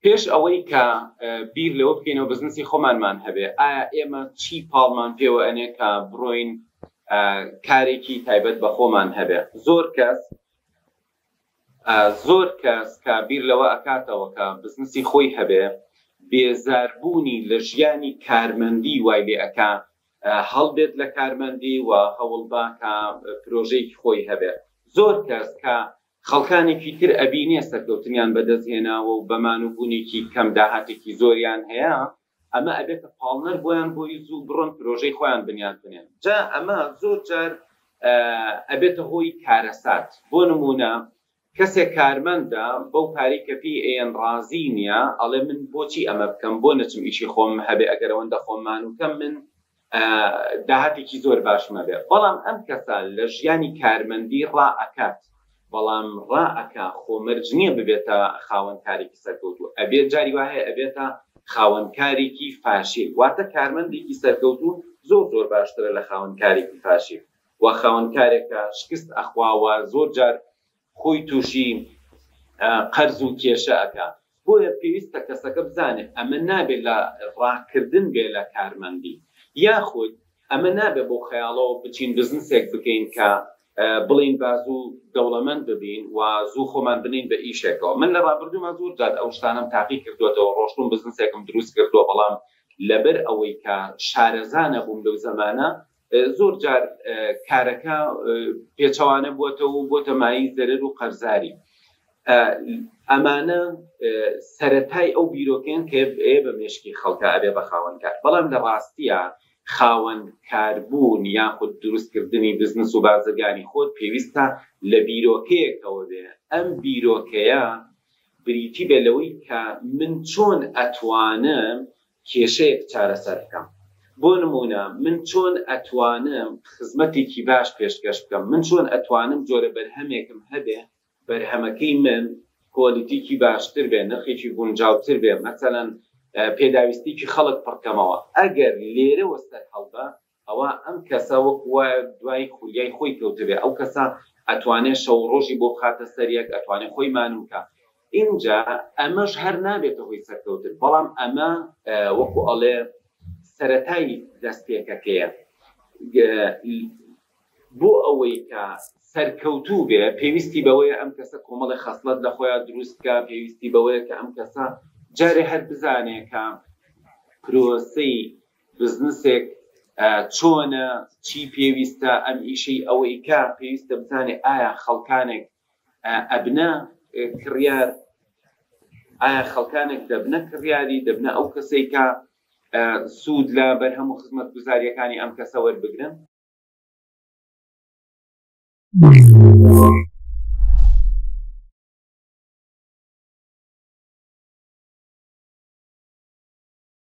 پێش ئەوەی کە بیر لەوە بکەینەوە بزنسی خۆمانمان هەبێ ئایا ئێمە چی پاڵمان پێوە ئەنێ کە بڕۆین کارێکی تایبەت بە خۆمان هەبێ زۆر کەس زۆر کەس کە بیر لەوە ئەکاتەوە کە بزنسی خۆی هەبێ بێزاربوونی لە ژیانی کارمەندی وای لێ ئەک هەڵبێت لە کارمەندی و هەوڵباکە پرۆژەی خۆی هەبێت زۆر کەس کە خەڵکانێکی تر ئەبینێ سەرکەوتنیان بەدەست هێناوە و بەمان و بونێکی کەم داهاتێکی زۆریان هەیە، ئەمە ئەبێتە پاڵنەر بۆیان بۆی زوو بڕۆن پرۆژەی خۆیان بنیات بنێن، جا ئەمە زۆر جار ئەبێتە هۆی کارەسات، بۆ نمونە کەسێک کارمەندە بەو پارەی کە پێی ئەیەن ڕازی نیە، ئەڵێ من بۆچی ئەمە بکەم، بۆ نەچم ئیشی خۆمم هەبێ ئەگەر ئەوەندە خۆم مانوکەم من داهاتێکی زۆر باشم هەبێ بەڵام ئەم کەسە لە ژیانی کارمەندی ڕا ئەکات بەڵام ڕا ئەکا خۆ مەرج نیە ببێتە خاوەن کارێکی سەرکەوتوو ئەبێ جاری وا هەیە ئەبێتە خاوەن کارێکی فاشیل واتە کارمەندێکی سەرکەوتوو زۆر زۆر باشترە لە خاوەن کارێکی فاشیل و خاوەن کارێکە شکست ئەخوا و زۆر جار خۆی توشی قەرز و کێشە ئەکا بۆیە پێویستە کەسەکە بزانێ ئەمە نابێ لە ڕاکردن بێ لە کارمەندی یاخود ئەمە نابێ بەو خەیاڵەوە بچین بزنسێک بکەین کە بڵێین با زوو دەوڵەمەند ببین و زوو خۆمان بنێین بە ئیشێکەوە من لە ڕابردووما زۆر جار ئەو شتانەم تاقی کردۆتەوە ڕۆشتوم بزنسێکم دروست کردوە بەڵام لەبەر ئەوەی کە شارەزا نەبووم لەو زەمانە زۆر جار کارەکە پێچەوانە بووەتەوە و بۆتە مایەی زەرەر و قەرزاری. ئەمانە سەرەتای ئەو بیرۆکەیەن کە ئێ بە مێشکی خەڵکە ئەبێ بە خاوەنکار، بەڵام لە ڕاستییا خاوەنکاربوون یاخود دروستکردنی بزنس و بازرگانی خۆت پێویستە لە بیرۆکەیەکەوە بێ، ئەم بیرۆکەیە بریتی بێ لەوەی کە من چۆن ئەتوانم کێشەیەک چارەسەر بکەم بۆ نموونە من چۆن ئەتوانم خزمەتێکی باش پێشکەش بکەم من چۆن ئەتوانم جۆرە بەرهەمێکم هەبێ بەرهەمەکەی من کوالیتیکی باشتر بێ نرخێکی گونجاوتر بێ مەسەلەن پێداویستیکی خەڵک پڕکەمەوە ئەگەر لێرەوە سەرهەڵدا ئەوا ئەم کەسە وەکو وایە دوای خولیای خۆی کەوتبێ، ئەو کەسە ئەتوانێ شەو و ڕۆژی بۆ بخاتە سەر یەک، ئەتوانێ خۆی مانوو کا، ئینجا ئەمەش هەر نابێتە هۆی سەرکەوتن، بەڵام ئەمە وەکو ئەڵێ سەرەتای دەست پێکەکەیە، بۆ ئەوەی کە سەرکەوتوو بێ پێویستی بەوەیە ئەم کەسە کۆمەڵێ خەسڵەت لە خۆیان دروست بکا، پێویستی بەوەیە کە ئەم کەسە جارێ هەر بزانێ کە پرۆسەی بزنسێک چۆنە چی پێویستە ئەم ئیشەی ئەوەی کا پێویستە بزانێ ئایا خەڵکانێک ئەبنە کڕیار ئایا خەڵکانێک دەبنە کڕیاری دەبنە ئەو کەسەی کا سوود لە بەرهەم و خزمەت گوزاریەکانی ئەم کەسە وەربگرن